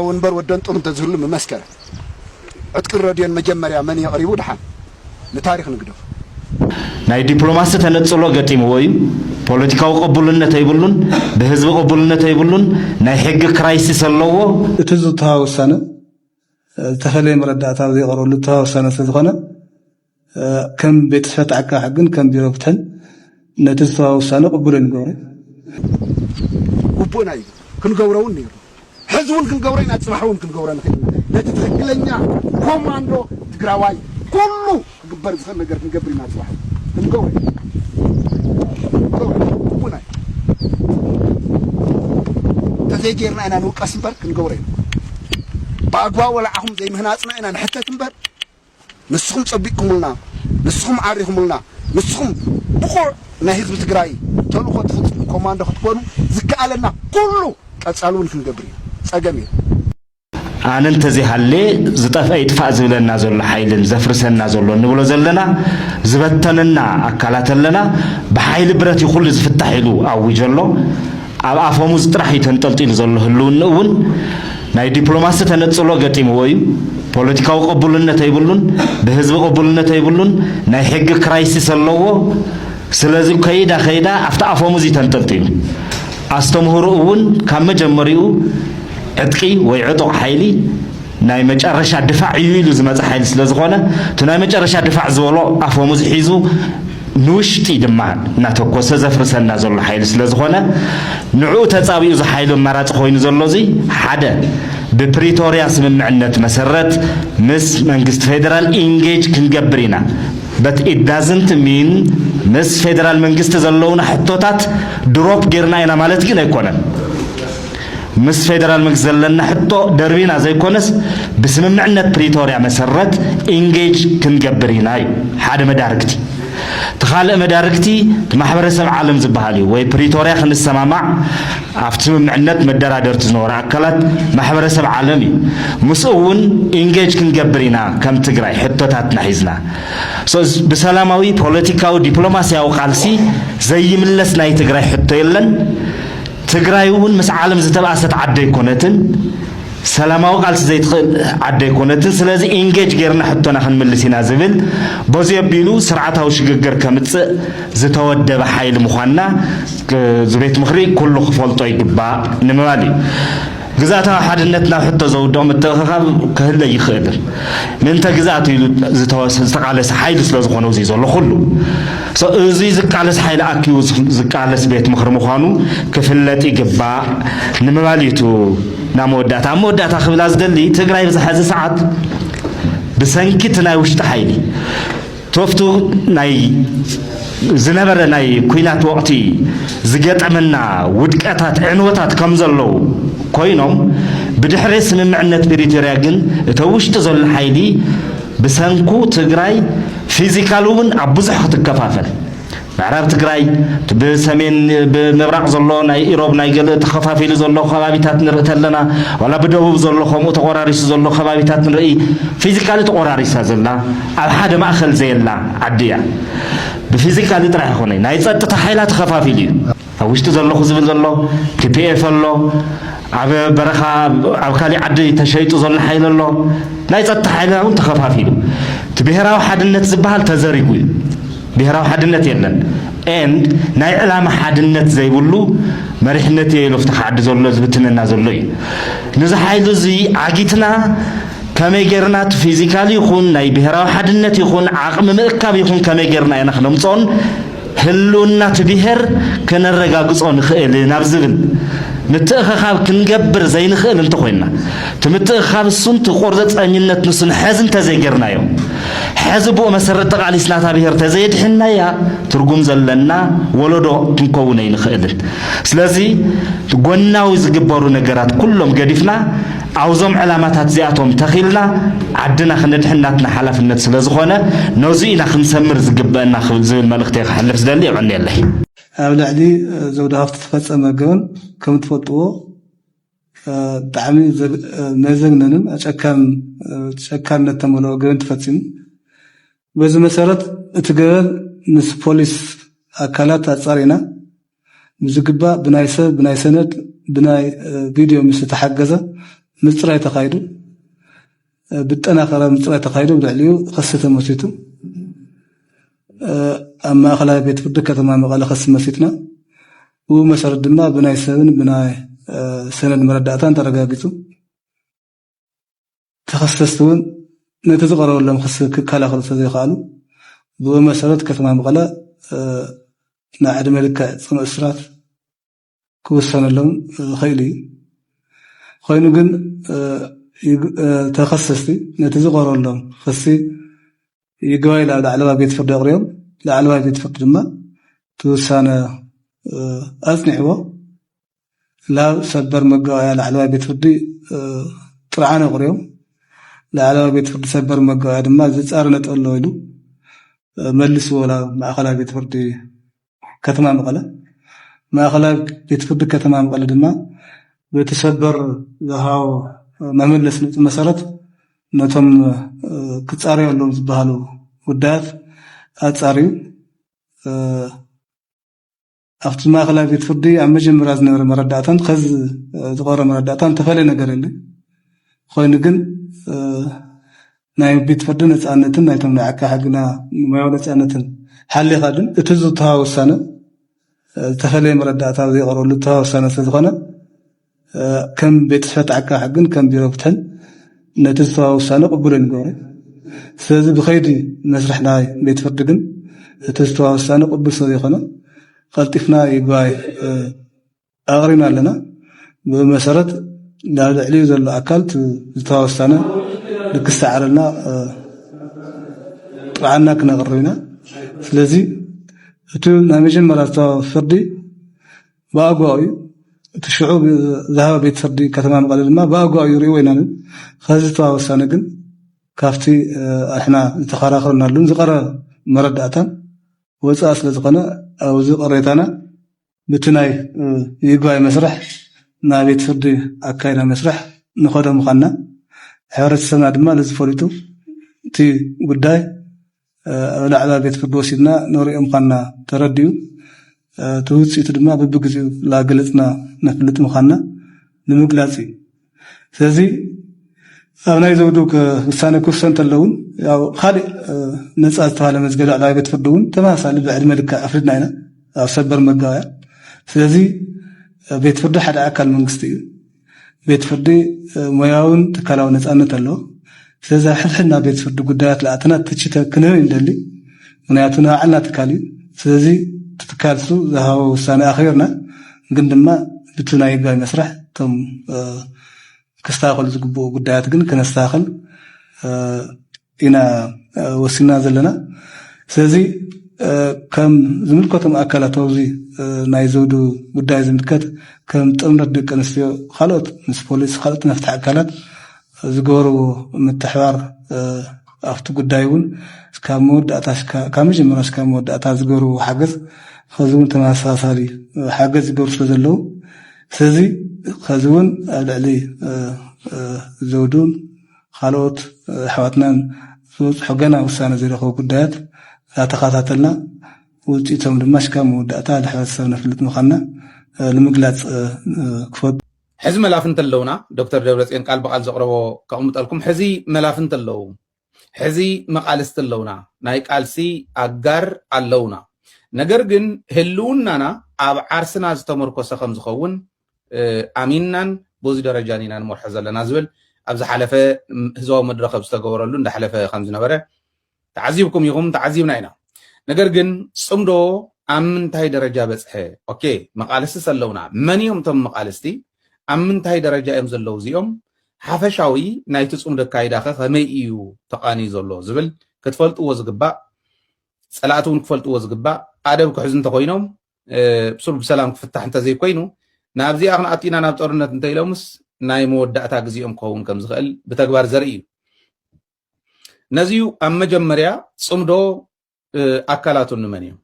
ወንበር ወደንጡር እንተዝህሉ ምመስከረ። ዕጥቅን ረድዮን መጀመርያ መን የቕሪቡ ድሓን ንታሪኽ ንግደፎ። ናይ ዲፕሎማሲ ተነጽሎ ገጢምዎ እዩ ፖለቲካዊ ቅቡልነት ኣይብሉን ብህዝቢ ቅቡልነት ኣይብሉን ናይ ሕጊ ክራይሲስ ኣለዎ። እቲ ዝተውሃበ ውሳነ ዝተፈለየ መረዳእታ ኣብ ዘይቐርበሉ ዝተውሃበ ውሳነ ስለዝኾነ፣ ከም ቤት ፅሕፈት ዓቃቢ ሕግን ከም ቢሮ ፍትሕን ነቲ ዝተዋሃበ ውሳነ ቅቡል ኣይንገብሮን። ግቡእና እዩ ክንገብሮ እውን ነይርና ሕዚ እውን ክንገብሮ ኢና ፅባሕ እውን ክንገብሮ ንኽእል ኢና ነቲ ትኽክለኛ ኮማንዶ ትግራዋይ ኩሉ ክግበር ዝኽእል ነገር ክንገብር ኢና ፅባሕ እውን ክንገብሮ ኢና ክንገብሮ ኢና ግቡእና እዩ እንተዘይጌርና ኢና ንውቀስ እምበር ክንገብሮ ኢና ብኣግባቡ ወላዓኹም ዘይምህናፅና ኢና ንሕተት እምበር ንስኹም ጨቢጥኩምልና፣ ንስኹም ዓሪኹምልና፣ ንስኹም ብቑዕ ናይ ህዝቢ ትግራይ ተልእኾ ትፍፅሙ ኮማንዶ ክትኮኑ ዝከኣለና ኩሉ ቀፃሊ እውን ክንገብር ኢና። ፀገም የለን። ኣነ እንተዘይሃልየ ዝጠፍኣ ይጥፋእ ዝብለና ዘሎ ሓይልን ዘፍርሰና ዘሎ እንብሎ ዘለና ዝበተነና ኣካላት ኣለና። ብሓይሊ ብረት እዩ ኩሉ ዝፍታሕ ኢሉ ኣዊጁ ኣሎ። ኣብ ኣፈሙዝ ጥራሕ እዩ ተንጠልጢሉ ዘሎ ህልውንኡ እውን ናይ ዲፕሎማሲ ተነጽሎ ገጢምዎ እዩ። ፖለቲካዊ ቅቡልነት ኣይብሉን፣ ብህዝቢ ቅቡልነት ኣይብሉን፣ ናይ ሕጊ ክራይሲስ ኣለዎ። ስለዚ ከይዳ ከይዳ ኣብቲ ኣፈሙዝ እዩ ተንጠልጢሉ። ኣስተምህሮኡ እውን ካብ መጀመሪኡ ዕጥቂ ወይ ዕጡቕ ሓይሊ፣ ናይ መጨረሻ ድፋዕ እዩ ኢሉ ዝመፀ ሓይሊ ስለዝኾነ እቲ ናይ መጨረሻ ድፋዕ ዝበሎ ኣፈሙዝ ሒዙ ንውሽጢ ድማ እናተኮሰ ዘፍርሰና ዘሎ ሓይሊ ስለዝኾነ ንዕኡ ተፃቢኡ እዚ ሓይሊ ኣማራፂ ኮይኑ ዘሎ እዚ ሓደ ብፕሪቶርያ ስምምዕነት መሰረት ምስ መንግስቲ ፌደራል ኢንጌጅ ክንገብር ኢና but it doesn't mean ምስ ፌደራል መንግስቲ ዘለውና ሕቶታት ድሮፕ ጌርና ኢና ማለት ግን ኣይኮነን። ምስ ፌደራል መንግስቲ ዘለና ሕቶ ደርቢና ዘይኮነስ ብስምምዕነት ፕሪቶርያ መሰረት ኢንጌጅ ክንገብር ኢና እዩ ሓደ መዳርግቲ። እቲ ካልእ መዳርግቲ እቲ ማሕበረሰብ ዓለም ዝበሃል እዩ ወይ ፕሪቶርያ ክንሰማማዕ ኣብቲ ስምምዕነት መደራደርቲ ዝነበሩ ኣካላት ማሕበረሰብ ዓለም እዩ። ምስኡ እውን ኢንጌጅ ክንገብር ኢና ከም ትግራይ ሕቶታትና ሒዝና። So ብሰላማዊ ፖለቲካዊ ዲፕሎማሲያዊ ቃልሲ ዘይምለስ ናይ ትግራይ ሕቶ የለን። ትግራይ እውን ምስ ዓለም ዝተብኣሰት ዓዲ ኣይኮነትን፣ ሰላማዊ ቃልሲ ዘይትኽእል ዓዲ ኣይኮነትን፣ ስለዚ ኢንጌጅ ገይርና ሕቶና ክንምልስ ኢና ዝብል በዙይ ኣቢሉ ስርዓታዊ ሽግግር ከምፅእ ዝተወደበ ሓይሊ ምዃንና እዚ ቤት ምኽሪ ኩሉ ክፈልጦ ይግባእ ንምባል እዩ። ግዝኣታዊ ሓድነት ናብ ሕቶ ዘውድቕ ምትእኽኻብ ክህለ ይኽእል ምእንተ ግዝኣት ኢሉ ዝተቓለሰ ሓይሊ ስለ ዝኾነ እዙይ ዘሎ ኩሉ እዙይ ዝቃለስ ሓይሊ ኣኪቡ ዝቃለስ ቤት ምኽሪ ምዃኑ ክፍለጥ ይግባእ ንምባል እዩ ናብ መወዳእታ ኣብ መወዳእታ ክብላ ዝደሊ ትግራይ ብዝሓዚ ሰዓት ብሰንኪ እቲ ናይ ውሽጢ ሓይሊ ቶፍቱ ናይ ዝነበረ ናይ ኩናት ወቕቲ ዝገጠመና ውድቀታት ዕንወታት ከም ዘለዉ ኮይኖም ብድሕሪ ስምምዕነት ፕሪቶርያ ግን እቲ ኣብ ውሽጢ ዘሎ ሓይሊ ብሰንኩ ትግራይ ፊዚካሊ እውን ኣብ ብዙሕ ክትከፋፈል ምዕራብ ትግራይ እቲ ብሰሜን ብምብራቕ ዘሎ ናይ ኢሮብ ናይ ገልእ ተኸፋፊሉ ዘሎ ከባቢታት ንርኢ ተለና ዋላ ብደቡብ ዘሎ ከምኡ ተቖራሪሱ ዘሎ ከባቢታት ንርኢ ፊዚካሊ ተቖራሪሳ ዘላ ኣብ ሓደ ማእኸል ዘየላ ዓዲ እያ ብፊዚካሊ ጥራሕ ይኾነ ናይ ፀጥታ ሓይላ ተኸፋፊሉ እዩ ኣብ ውሽጢ ዘለኹ ዝብል ዘሎ ቲፒኤፍ ኣሎ፣ ኣብ በረኻ ኣብ ካሊእ ዓዲ ተሸይጡ ዘሎ ሓይሊ ኣሎ፣ ናይ ፀጥታ ሓይልና እውን ተኸፋፊሉ እቲ ብሄራዊ ሓድነት ዝበሃል ተዘሪጉ እዩ። ብሄራዊ ሓድነት የለን ኤንድ ናይ ዕላማ ሓድነት ዘይብሉ መሪሕነት እየ ኢሉ ኣብቲ ዓዲ ዘሎ ዝብትነና ዘሎ እዩ። ነዚ ሓይሊ እዚ ዓጊትና ከመይ ጌርና እቲ ፊዚካሊ ይኹን ናይ ብሄራዊ ሓድነት ይኹን ዓቕሚ ምእካብ ይኹን ከመይ ጌርና ኢና ክነምፅኦን ህልውና እቲ ብሄር ከነረጋግጾ ንኽእል ናብ ዝብል ምትእኸኻብ ክንገብር ዘይንኽእል እንተኾይንና፣ እቲ ምትእኽኻብ እሱን እቲ ቆርጸጸኝነት ንሱን ሐዚ እንተዘይገርናዮ፣ ሐዚ ብኡ መሰረት ተቓሊስና እታ ብሄር ተዘየድሒንናያ ትርጉም ዘለና ወለዶ ክንከውን ኣይንኽእልን። ስለዚ ጎናዊ ዝግበሩ ነገራት ኩሎም ገዲፍና፣ ኣብዞም ዕላማታት እዚኣቶም ተኺልና ዓድና ክነድሕን ናትና ሓላፍነት ስለ ዝኾነ ነዙይ ኢና ክንሰምር ዝግበእና ክብል ዝብል መልእኽተይ ከሕልፍ ዝደሊ የቐንየለይ። ኣብ ልዕሊ ዘውዲ ሃፍቱ ዝተፈፀመ ገበን ከም ትፈልጥዎ ብጣዕሚ መዘግነንን ኣጨካንን ጨካነት ተመልኦ ገበን ተፈፂሙ። በዚ መሰረት እቲ ገበን ምስ ፖሊስ ኣካላት ኣፃሪና ብዝግባእ ብናይ ሰብ ብናይ ሰነድ ብናይ ቪድዮ ምስ ዝተሓገዘ ምፅራይ ተኻይዱ ብጠናኸረ ምፅራይ ተኻይዱ ብልዕሊኡ ኸሲ ተመሲቱ ኣብ ማእኸላይ ቤት ፍርዲ ከተማ መቐለ ኸሲ መሲትና ብኡ መሰረት ድማ ብናይ ሰብን ብናይ ሰነድ መረዳእታን ተረጋጊፁ ተኸሰስቲ እውን ነቲ ዝቐረበሎም ክሲ ክከላኸሉ ስለዘይከኣሉ ብኡ መሰረት ከተማ መቐለ ናይ ዕድመ ልክዕ ፅኑዕ እስራት ክውሰነሎም ኽኢሉ እዩ። ኾይኑ ግን ተኸሰስቲ ነቲ ዝቐረበሎም ኽሲ ይግባይ ናብ ላዕለዋይ ቤት ፍርዲ ኣቕሪቦም ላዕለዋይ ቤት ፍርዲ ድማ እቲ ውሳነ ኣፅኒዕዎ ናብ ሰበር መጋባእያ ላዕለዋይ ቤት ፍርዲ ጥርዓን ኣቕሪቦም ላዕለዋይ ቤት ፍርዲ ሰበር መጋባእያ ድማ ዝፃረ ነጥቢ ኣሎ ኢሉ መልስዎ ናብ ማእኸላይ ቤት ፍርዲ ከተማ መቐለ ማእኸላይ ቤት ፍርዲ ከተማ መቐለ ድማ በቲ ሰበር ዝሃቦ መመለሲ ነጥቢ መሰረት ነቶም ክፃረዩ ኣለዎም ዝበሃሉ ጉዳያት ኣፃርዩ ኣብቲ ማእኸላይ ቤት ፍርዲ ኣብ መጀመርያ ዝነበረ መረዳእታን ከዚ ዝቐረ መረዳእታን ዝተፈለየ ነገር የለን ኮይኑ ግን ናይ ቤት ፍርዲ ነፃነትን ናይቶም ናይ ዓቃ ሕግና ሙያዊ ነፃነትን ሓሊኻ ግን እቲ ዝተሃ ውሳነ ዝተፈለየ መረዳእታ ዘይቀረሉ ዝተሃ ውሳነ ስለዝኾነ ከም ቤት ጽሕፈት ዓቃቢ ሕግን ከም ቢሮ ፍትሕን ነቲ ዝተዋሃበ ውሳነ ቅቡል ኣይንገብሮን። ስለዚ ብከይዲ መስርሕ ናይ ቤት ፍርዲ ግን እቲ ዝተዋሃበ ውሳነ ቅቡል ስለዘይኮነ ቀልጢፍና ይግባይ ኣቕሪብና ኣለና። ብኡ መሰረት ናብ ልዕሊኡ ዘሎ ኣካል እቲ ዝተዋሃበ ውሳነ ልክ ዝሰዓረልና ጥብዓና ክነቕርብ ኢና። ስለዚ እቲ ናይ መጀመርያ ዝተዋሃበ ፍርዲ ብኣግባቡ እዩ እቲ ሽዑ ዝሃበ ቤት ፍርዲ ከተማ መቐለ ድማ ብኣግባቡ እዩ ርእይዎ ኢና ከዚ ዝተዋ ውሳነ ግን ካብቲ ኣሕና ዝተኸራኸርናሉን ዝቐረ መረዳእታን ወፃእ ስለ ዝኾነ ኣብዚ ቅሬታና ብቲ ናይ ይግባይ መስርሕ ናብ ቤት ፍርዲ ኣካይና መስርሕ ንኸዶ ምዃንና ሕብረተሰብና ድማ ነዚ ፈሊጡ እቲ ጉዳይ ኣብ ላዕለዋይ ቤት ፍርዲ ወሲድና ነርእዮ ምዃንና ተረዲኡ። እቲ ውጽኢቱ ድማ ብብግዜኡ ላገለጽና ነፍልጥ ምዃንና ንምግላጽ እዩ። ስለዚ ኣብ ናይ ዘውዱ ውሳነ ክውሰን እንተሎ እውን ያው ካልእ ነጻ ዝተባህለ መዝገብ ላዕለዋይ ቤት ፍርዲ እውን ተመሳሳሊ ብዕድመ ልክዕ ኣፍሪድና ኢና ኣብ ሰበር መጋባእያ። ስለዚ ቤት ፍርዲ ሓደ ኣካል መንግስቲ እዩ። ቤት ፍርዲ ሞያውን ትካላውን ነፃነት ኣለዎ። ስለዚ ኣብ ሕድሕድ ናብ ቤት ፍርዲ ጉዳያት ልኣተና ትቺ ክንህብ ንደሊ። ምክንያቱ ናይ ባዕልና ትካል እዩ። ስለዚ እቲ ትካል እሱ ዝሃቦ ውሳነ ኣኽቢርና ግን ድማ ብቲ ናይ ህጋዊ መስርሕ እቶም ክስተኻኸሉ ዝግብኡ ጉዳያት ግን ከነስተኻኽል ኢና ወሲና ዘለና ስለዚ ከም ዝምልከቶም ኣካላት ኣብዚ ናይ ዘውዱ ጉዳይ ዝምልከት ከም ጥምረት ደቂ ኣንስትዮ ካልኦት ምስ ፖሊስ ካልኦት መፍትሒ ኣካላት ዝገበርዎ ምትሕባር ኣብቲ ጉዳይ እውን ካብ መወዳእታ ካብ መጀመርያ እስካብ መወዳእታ ዝገበርዎ ሓገዝ ከዚ እውን ተመሳሳሊ ሓገዝ ዝገበሩ ስለ ዘለዉ ስለዚ ከዚ እውን ኣብ ልዕሊ ዘውዱን ኻልኦት ኣሕዋትናን ዝበፅሖ ገና ውሳነ ዘይረኸቡ ጉዳያት እናተኸታተልና ውፅኢቶም ድማ ሽካብ መወዳእታ ንሕብረተሰብ ነፍልጥ ምዃንና ንምግላፅ ክፈቱ። ሕዚ መላፍንቲ ኣለውና ዶክተር ደብረፅዮን ቃል ብቓል ዘቕረቦ ከቕምጠልኩም ሕዚ መላፍንቲ ኣለዉ ሕዚ መቓልስቲ ኣለውና ናይ ቃልሲ ኣጋር ኣለውና ነገር ግን ህልውናና ኣብ ዓርስና ዝተመርኮሰ ከምዝኸውን ኣሚንናን በዚ ደረጃን ኢና ንመርሖ ዘለና ዝብል ኣብ ዝሓለፈ ህዝባዊ መድረኽ ኣብ ዝተገበረሉ እንዳሓለፈ ከም ዝነበረ ተዓዚብኩም ኢኹም ተዓዚብና ኢና ነገር ግን ጽምዶ ኣብ ምንታይ ደረጃ በጽሐ ኦኬ መቃልስቲ ሰለውና መን እዮም እቶም መቃልስቲ ኣብ ምንታይ ደረጃ እዮም ዘለዉ እዚኦም ሓፈሻዊ ናይቲ ጽምዶ ኣካይዳ ከ ከመይ እዩ ተቃንዩ ዘሎ ዝብል ክትፈልጥዎ ዝግባእ ጸላእቲ እውን ክፈልጥዎ ዝግባእ ኣደብ ክሕዙ እንተኮይኖም ብሱል ብሰላም ክፍታሕ እንተዘይኮይኑ ናብዚኣ ክንኣቱ ኢና ናብ ጦርነት እንተኢሎምስ ናይ መወዳእታ ግዜኦም ክኸውን ከም ዝኽእል ብተግባር ዘርኢ እዩ ነዚዩ ኣብ መጀመርያ ፅምዶ ኣካላቱ ንመን እዮም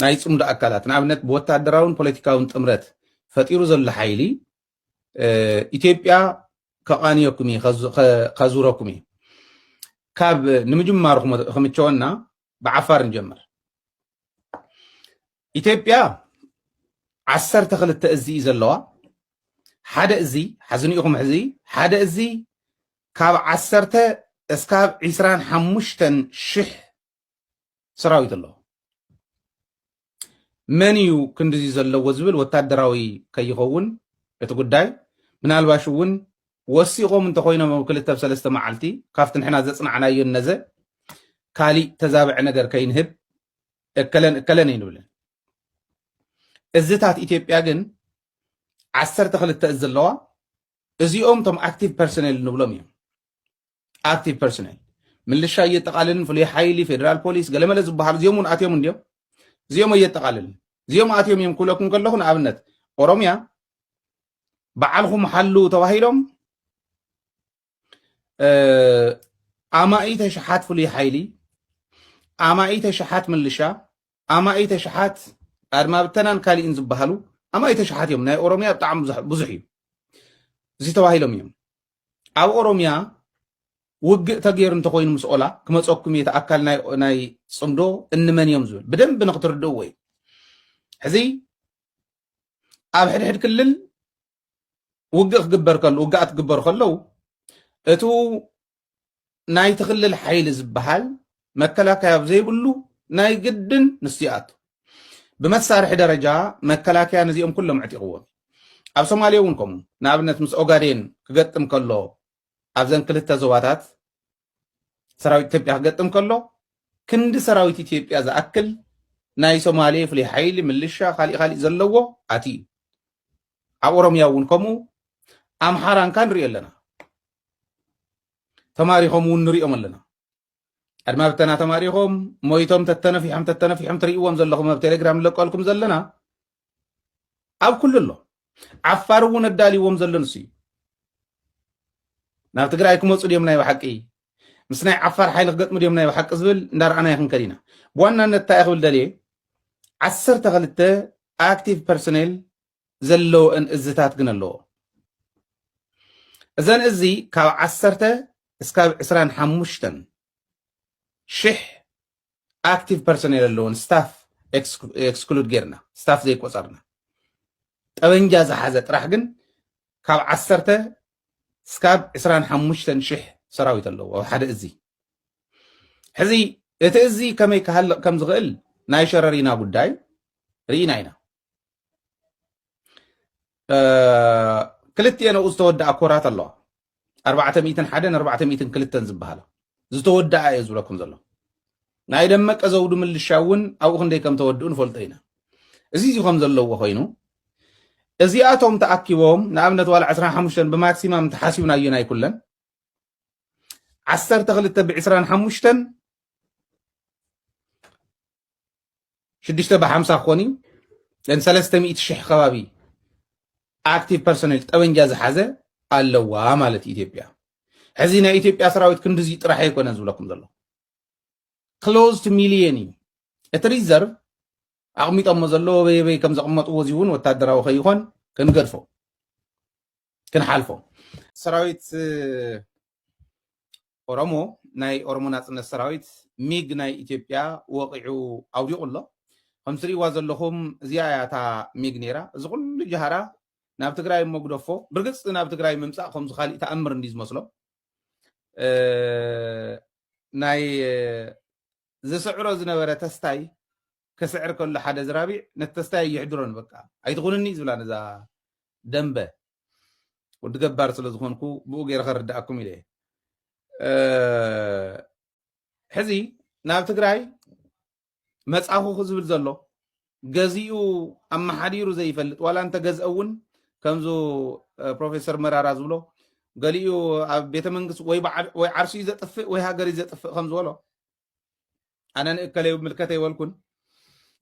ናይ ፅምዶ ኣካላት ንኣብነት ብወታደራውን ፖለቲካውን ጥምረት ፈጢሩ ዘሎ ሓይሊ ኢትዮጵያ ከቃንየኩም እዩ ከዙረኩም እዩ ካብ ንምጅማሩ ክምቸወና ብዓፋር ንጀምር ኢትዮጵያ ዓሰርተ ክልተ እዚ እዩ ዘለዋ ሓደ እዚ ሓዚ ንኢኹም ሕዚ ሓደ እዚ ካብ ዓሰርተ እስካብ ዒስራን ሓሙሽተን ሽሕ ሰራዊት ኣለዎ መን እዩ ክንድዚ ዘለዎ ዝብል ወታደራዊ ከይኸውን እቲ ጉዳይ ምናልባሽ እውን ወሲኾም እንተኾይኖም ኣብ ክልተ ኣብ ሰለስተ መዓልቲ ካብቲ ንሕና ዘጽናዕናዮን ነዘ ካሊእ ተዛብዐ ነገር ከይንህብ እከለን እከለን ኣይንብልን። እዝታት ኢትዮጵያ ግን ዓሰርተ ክልተ እዝ ኣለዋ። እዚኦም እቶም ኣክቲቭ ፐርሶኔል ንብሎም እዮም። ኣቲ ፐርሰናል ምልሻ እየጠቃልልን ፍሉይ ሓይሊ ፌደራል ፖሊስ ገለመለ ዝበሃሉ እዚኦም እውን ኣትዮም እንዲዮም እዚኦም እየጠቃልልን እዚኦም ኣትዮም እዮም ክብለኩም ከለኹ ንኣብነት ኦሮሚያ በዓልኹም ሓሉ ተባሂሎም ኣማኢተ ሸሓት ፍሉይ ሓይሊ ኣማኢተ ሸሓት ምልሻ ኣማኢተ ሸሓት ኣድማ ብተናን ካሊእን ዝበሃሉ ኣማኢተ ሸሓት እዮም ናይ ኦሮሚያ ብጣዕሚ ብዙሕ እዩ እዚ ተባሂሎም እዮም ኣብ ኦሮምያ ውግእ ተገይሩ እንተኮይኑ ምስ ኦላ ክመፀኩም እየ እቲ ኣካል ናይ ፅምዶ እንመን እዮም ዝብል ብደንብ ንክትርድእዎ እዩ ሕዚ ኣብ ሕድሕድ ክልል ውግእ ክግበር ከሎ ውግኣት ክግበሩ ከለው እቱ ናይቲ ክልል ሓይሊ ዝበሃል መከላከያ ኣብ ዘይብሉ ናይ ግድን ንሱ ይኣቱ። ብመሳርሒ ደረጃ መከላከያ ነዚኦም ኩሎም ኣዕጢቕዎም እዩ። ኣብ ሶማሌ እውን ከምኡ ንኣብነት ምስ ኦጋዴን ክገጥም ከሎ ኣብዘን ክልተ ዞባታት ሰራዊት ኢትዮጵያ ክገጥም ከሎ ክንዲ ሰራዊት ኢትዮጵያ ዝኣክል ናይ ሶማሌ ፍሉይ ሓይሊ ምልሻ ካሊእ ካሊእ ዘለዎ ኣትዩ ኣብ ኦሮምያ እውን ከምኡ ኣምሓራን ካን ንሪኦ ኣለና ተማሪኾም እውን ንሪኦም ኣለና ኣድማ ብተና ተማሪኾም ሞይቶም ተተነፊሖም ተተነፊሖም ትርእይዎም ዘለኹም ኣብ ቴሌግራም ንለቀልኩም ዘለና ኣብ ኩሉ ኣሎ ዓፋር እውን ኣዳልይዎም ዘሎ ንሱ እዩ ናብ ትግራይ ክመፁ ድዮም ናይ ብሓቂ ምስ ናይ ዓፋር ሓይሊ ክገጥሙ ድዮም ናይ ብሓቂ ዝብል እንዳረኣና ይክንከድ ኢና ብዋናነት እንታይ ክብል ደልየ ዓሰርተ ክልተ ኣክቲቭ ፐርሶኔል ዘለወእን እዝታት ግን ኣለዎ እዘን እዚ ካብ ዓሰርተ እስካብ ዕስራን ሓሙሽተን ሽሕ ኣክቲቭ ፐርሶኔል ኣለዎን ስታፍ ኤክስክሉድ ጌርና ስታፍ ዘይቆፀርና ጠበንጃ ዝሓዘ ጥራሕ ግን ካብ ዓሰርተ እስካብ ዕስራን ሓሙሽተን ሽሕ ሰራዊት ኣለዎ ኣብ ሓደ እዚ ሕዚ እቲ እዚ ከመይ ክሃልቕ ከም ዝኽእል ናይ ሸረሪና ጉዳይ ርኢና ኢና ክልቲኤን ኣብኡ ዝተወድኣ ኮራት ኣለዋ ኣርባዕተ ሚእትን ሓደን ኣርባዕተ ሚእትን ክልተን ዝበሃላ ዝተወድኣ እየ ዝብለኩም ዘሎ ናይ ደመቀ ዘውዱ ምልሻ እውን ኣብኡ ክንደይ ከም ተወድኡ ንፈልጦ ኢና እዚ እዚ ከም ዘለዎ ኮይኑ እዚኣቶም ተኣኪቦም ንኣብነት ዋላ 25 ብማክሲማም ተሓሲብናዮ ናይ ኩለን 12 ብ25 ሽዱሽተ ብሓምሳ ክኾን እዩ ን ሰለስተ ሚእቲ ሽሕ ከባቢ ኣክቲቭ ፐርሶኔል ጠበንጃ ዝሓዘ ኣለዋ ማለት እዩ ኢትዮጵያ ሕዚ ናይ ኢትዮጵያ ሰራዊት ክንድዚ ጥራሕ ኣይኮነ ዝብለኩም ዘሎ ክሎዝ ቱ ሚሊየን እዩ እቲ ሪዘርቭ ኣቕሚጦሞ ዘለዎ በየበይ ከም ዘቕመጥዎ እዚ እውን ወታደራዊ ከይኾን ክንገድፎ ክንሓልፎ ሰራዊት ኦሮሞ ናይ ኦሮሞ ናጽነት ሰራዊት ሚግ ናይ ኢትዮጵያ ወቒዑ ኣውዲቑ ኣሎ። ከም ትርእይዋ ዘለኹም እዚኣ እያ እታ ሚግ ነይራ። እዚ ኩሉ ጃህራ ናብ ትግራይ እሞ ግደፎ፣ ብርግጽ ናብ ትግራይ ምምጻእ ከምዚ ካሊእ ተኣምር እንድዩ ዝመስሎም ናይ ዝስዕሮ ዝነበረ ተስታይ ክስዕር ከሎ ሓደ ዝራቢዕ ነቲ ተስታይ ኣይሕድሮን በቃ ኣይትኹንኒ ዝብላ ነዛ ደንበ ወዲ ገባር ስለ ዝኾንኩ ብኡ ገይረ ከረዳኣኩም ኢለ ሕዚ ናብ ትግራይ መጻኹ ዝብል ዘሎ ገዚኡ ኣመሓዲሩ ዘይፈልጥ ዋላ እንተገዝአ እውን ከምዚ ፕሮፌሰር መራራ ዝብሎ ገሊኡ ኣብ ቤተ መንግስቲ ወይ በዓል- ወይ ዓርሱ እዩ ዘጥፍእ ወይ ሃገር እዩ ዘጥፍእ ከም ዝበሎ ኣነ ንእከለ ምልከተ ይበልኩን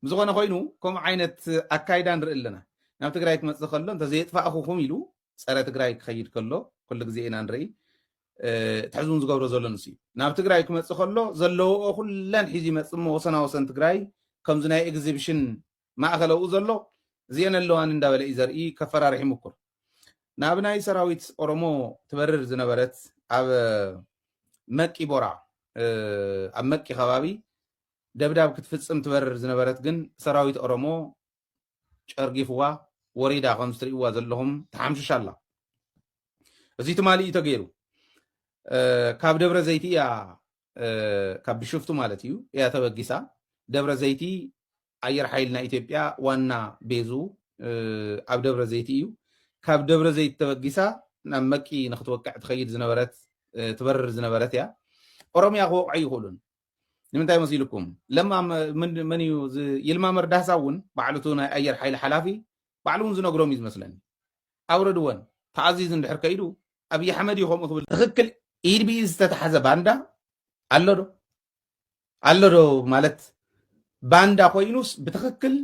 ብዝኾነ ኮይኑ ከምኡ ዓይነት ኣካይዳ ንርኢ ኣለና ናብ ትግራይ ክመፅእ ከሎ እንተዘየጥፋእኹኹም ኢሉ ፀረ ትግራይ ክኸይድ ከሎ ኩሉ ግዜ ኢና ንርኢ እቲ ሕዚ እውን ዝገብሮ ዘሎ ንሱ እዩ ናብ ትግራይ ክመፅእ ከሎ ዘለዎኦ ኩለን ሒዙ ይመፅእ እሞ ወሰና ወሰን ትግራይ ከምዚ ናይ ኤግዚብሽን ማእኸል ኣብኡ ዘሎ እዚአን ኣለዋኒ እንዳበለ እዩ ዘርኢ ከፈራርሕ ይምኩር ናብ ናይ ሰራዊት ኦሮሞ ትበርር ዝነበረት ኣብ መቂ ቦራ ኣብ መቂ ከባቢ ደብዳብ ክትፍፅም ትበርር ዝነበረት ግን ሰራዊት ኦሮሞ ጨርጊፍዋ ወሪዳ ከምዚ ትርእይዋ ዘለኹም ተሓምሽሽ ኣላ እዚ ትማሊ እዩ ተገይሩ ካብ ደብረ ዘይቲ እያ ካብ ብሽፍቱ ማለት እዩ እያ ተበጊሳ ደብረ ዘይቲ ኣየር ሓይል ናይ ኢትዮጵያ ዋና ቤዙ ኣብ ደብረ ዘይቲ እዩ ካብ ደብረ ዘይቲ ተበጊሳ ናብ መቂ ንክትወቅዕ ትኸይድ ዝነበረት ትበርር ዝነበረት እያ ኦሮምያ ክወቕዑ ኣይኽእሉን ንምንታይ መሲልኩም ለማ መን እዩ ይልማ መርዳህሳ እውን ባዕሉ እቲ ናይ ኣየር ሓይሊ ሓላፊ ባዕሉ እውን ዝነግሮም እዩ ዝመስለኒ ኣውረድወን ተኣዚዙ እንድሕር ከይዱ ኣብዪ ኣሕመድ እዩ ከምኡ ክብል ትኽክል ኢድ ብኢድ ዝተታሓዘ ባንዳ ኣሎ ዶ ኣሎ ዶ ማለት ባንዳ ኮይኑስ ብትኽክል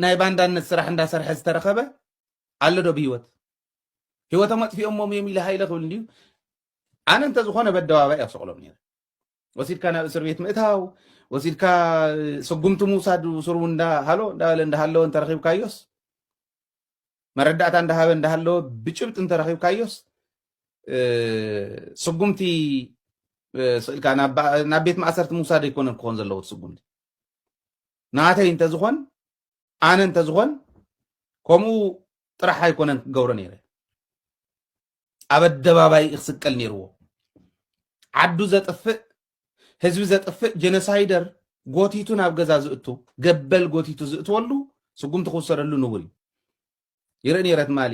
ናይ ባንዳነት ስራሕ እንዳሰርሐ ዝተረኸበ ኣሎ ዶ ብሂወት ሂወቶም ኣጥፊኦሞም እዮም ኢለ ሃይለ ክብል እንድዩ ኣነ እንተዝኾነ በደባባይ ኣብ ሰቕሎም ነይረ ወሲድካ ናብ እስር ቤት ምእታው ወሲድካ ስጉምቲ ምውሳድ ስሩ እንዳሃሎ እንዳበለ እንዳሃለወ እንተረኺብካዮስ መረዳእታ እንዳሃበ እንዳሃለወ ብጭብጢ እንተረኺብካዮስ ስጉምቲ ስእልካ ናብ ቤት ማእሰርቲ ምውሳድ ኣይኮነን ክኾን ዘለዎ ስጉምቲ ናተይ እንተዝኾን ኣነ እንተዝኾን ከምኡ ጥራሕ ኣይኮነን ክገብሮ ነይረ ኣብ ኣደባባይ እዩ ክስቀል ነይርዎ ዓዱ ዘጥፍእ ህዝቢ ዘጥፍእ ጀኖሳይደር ጎቲቱ ናብ ገዛ ዝእቱ ገበል ጎቲቱ ዝእትወሉ ስጉምቲ ክውሰደሉ ንቡር እዩ ይርኢ ነይረ ትማሊ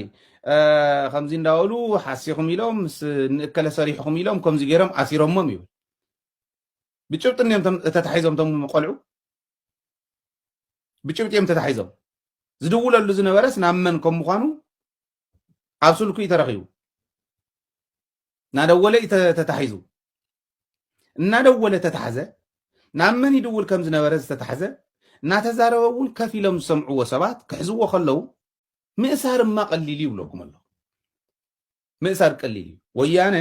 ከምዚ እንዳበሉ ሓሲኹም ኢሎም ምስ ንእከለ ሰሪሕኹም ኢሎም ከምዚ ገይሮም ኣሲሮሞም ይብል ብጭብጢ እዮም ተታሒዞም ቶም ቆልዑ ብጭብጢ እዮም ተታሒዞም ዝድውለሉ ዝነበረስ ናብ መን ከም ምኳኑ ኣብ ስልኩ እዩ ተረኺቡ እናደወለ እዩ ተታሒዙ እናደወለ ተታሕዘ ናብ መን ይድውል ከም ዝነበረ ዝተታሕዘ እናተዛረበ እውን ከፍ ኢሎም ዝሰምዕዎ ሰባት ክሕዝዎ ከለዉ ምእሳር እማ ቀሊል እዩ ብለኩም ኣሎ ምእሳር ቀሊል እዩ ወያነ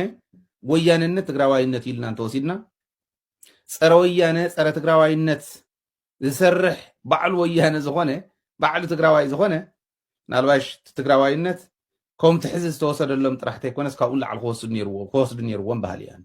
ወያነነት ትግራዋይነት ኢልና እንተወሲድና ፀረ ወያነ ፀረ ትግራዋይነት ዝሰርሕ ባዕሉ ወያነ ዝኾነ ባዕሉ ትግራዋይ ዝኾነ ምናልባሽ እቲ ትግራዋይነት ከምቲ ሕዚ ዝተወሰደሎም ጥራሕ ተይኮነስ ካብኡ ንላዕሊ ክወስዱ ነይርዎም ክወስዱ ነይርዎም በሃሊ እየ ኣነ።